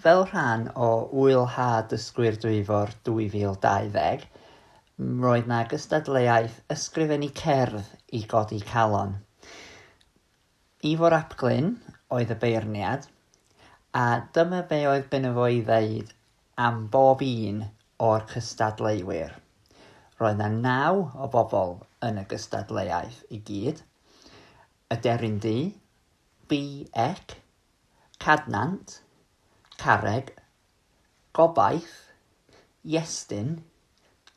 Fel rhan o Ŵyl Haf Dysgwyr Dwyfor 2020, roedd 'na gystadleuaeth ysgrifennu cerdd i godi calon. Ifor ap Glyn oedd y beirniad, a dyma be oedd gynno fo i ddeud am bob un o'r cystadleuwyr. Roedd 'na naw o bobl yn y gystadleuaeth i gyd, Aderyn Ddu, BEC, Cadnant, Carreg, Gobaith, Iestyn,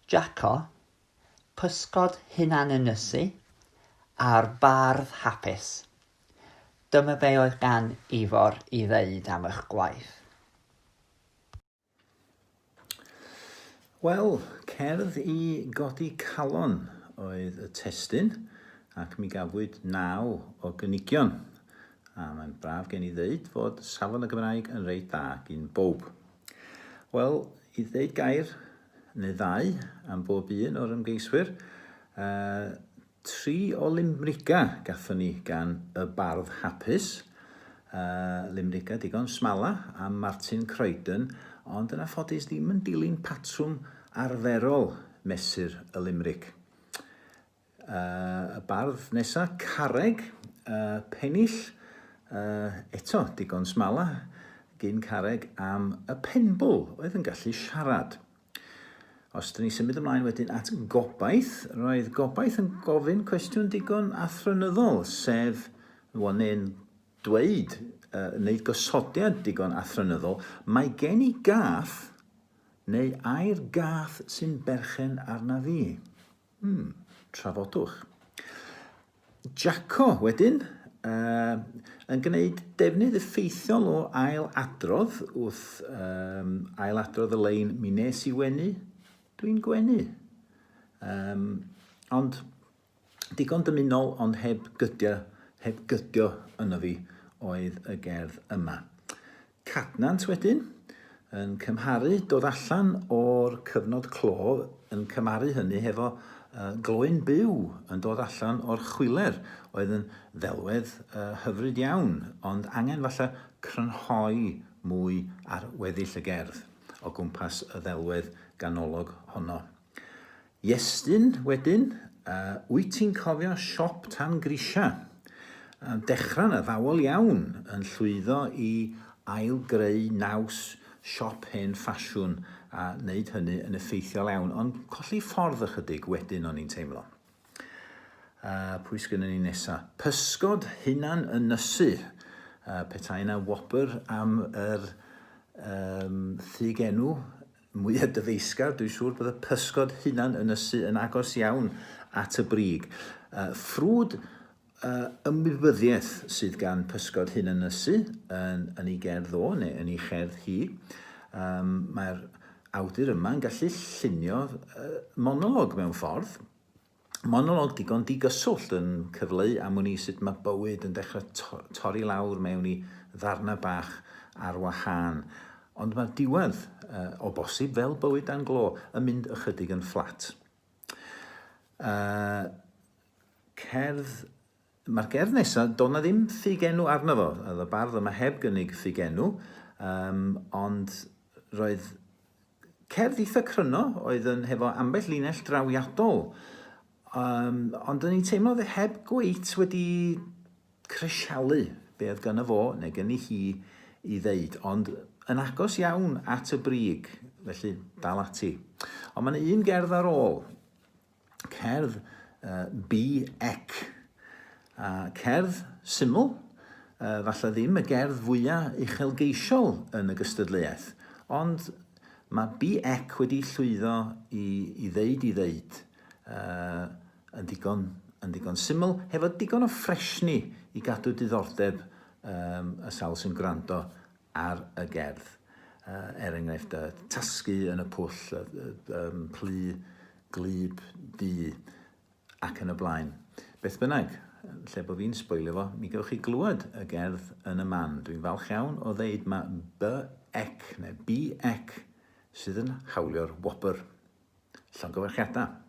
Jaco, Pysgod Hunanynysu a'r Bardd Hapus. Dyma be oedd gan Ifor i ddeud am eich gwaith. Wel, cerdd i godi calon oedd y testyn, ac mi gafwyd naw o gynigion. A mae'n braf gen i ddeud fod safon y Gymraeg yn reit dda gyn bob. Wel, i ddeud gair neu ddau am bob un o'r ymgeiswyr, uh, Tri o limrigau gathon ni gan y bardd hapus. Yy, limrigau digon smala am Martin Croydon, ond yna ffodus ddim yn dilyn patrwm arferol mesur y limrig. Yy, y bardd nesa, Carreg, yy, Pennill, yy, eto digon smala gyn Carreg am y penbwl oedd yn gallu siarad. Os dyn ni symud ymlaen wedyn at gobaith, roedd gobaith yn gofyn cwestiwn digon athronyddol, sef, wel, neu'n dweud, uh, wneud gosodiad digon athronyddol, mae gen i gath, neu ai'r gath sy'n berchen arna fi. Hmm, trafodwch. Jacko, wedyn, uh, yn gwneud defnydd effeithiol o ail adrodd wrth um, ail adrodd y lein mi nes i wenu, dwi'n gwenu. Um, ond digon dymunol ond heb gydio, heb gydio yno fi oedd y gerdd yma. Cadnant wedyn yn cymharu dod allan o'r cyfnod clo yn cymharu hynny hefo gloyn byw yn dod allan o'r chwiler oedd yn ddelwedd hyfryd iawn ond angen falle crynhoi mwy ar weddill y gerdd o gwmpas y ddelwedd ganolog honno. Iestyn, wedyn, wyt ti'n cofio siop tan grisiau? Dechrau 'na ddawel iawn, yn llwyddo i ail-greu naws siop hen ffasiwn a wneud hynny yn effeithiol iawn, ond colli ffordd ychydig wedyn o'n i'n teimlo. Pwy sgynnon ni nesa? Pysgod hunan ynysu. Petai 'na whopper am yr um, thig enw, mwya dyfeisgar, dwi'n siŵr bod y pysgod hunan yn ysu yn agos iawn at y brig. Ffrwd ymwybyddiaeth sydd gan pysgod hunan ysu yn, yn ei gerdd o, neu yn ei cherdd hi. Um, Mae'r awdur yma yn gallu llunio uh, monolog mewn ffordd, Monolog digon digyswllt yn cyfleu am wn i sut mae bywyd yn dechrau to torri lawr mewn i ddarnau bach ar wahân. Ond mae'r diwedd, uh, o bosib, fel bywyd dan glo, yn mynd ychydig yn fflat. Uh, cerdd Mae'r gerdd nesa, doedd 'na ddim ffugenw arno fo, oedd y bardd yma heb gynnig ffugenw, yym, ond roedd cerdd eitha cryno oedd yn hefo ambell linell drawiadol, um, ond o'n i'n teimlo oedd heb gweit wedi crisialu be oedd gyda fo neu gynnu hi i ddeud, ond yn agos iawn at y brig, felly dal ati. Ond mae'n un gerdd ar ôl, cerdd uh, bi ec. A cerdd syml, uh, falle ddim y gerdd fwyaf uchelgeisiol yn y gystadleuaeth, ond mae bi ec wedi llwyddo i, i ddeud i ddeud uh, yn, digon, yn digon syml, hefo digon o ffresni i gadw diddordeb um, y sawl sy'n gwrando ar y gerdd. Er enghraifft, tasgu yn y pwll, plu, glub, du, ac yn y blaen. Beth bynnag, lle bod fi'n sboilio fo, mi gewch chi glywed y gerdd yn y man. Dwi'n falch iawn o ddeud mae BEC, neu BEC, sydd yn hawlio'r wobr. Llongyfarchiadau.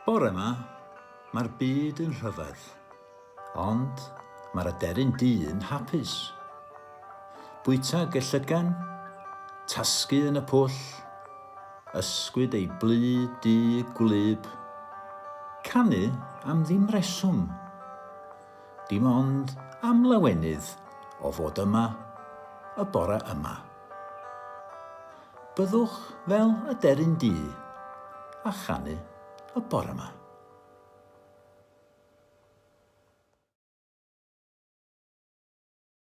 Bore yma, mae'r byd yn rhyfedd, ond mae'r aderyn du yn hapus. Bwyta gellygan, tasgu yn y pwll, ysgwyd ei blu du gwlyb, canu am ddim reswm. dim ond am lawenydd o fod yma y bore yma. Byddwch fel y deryn du a chanu y bore yma.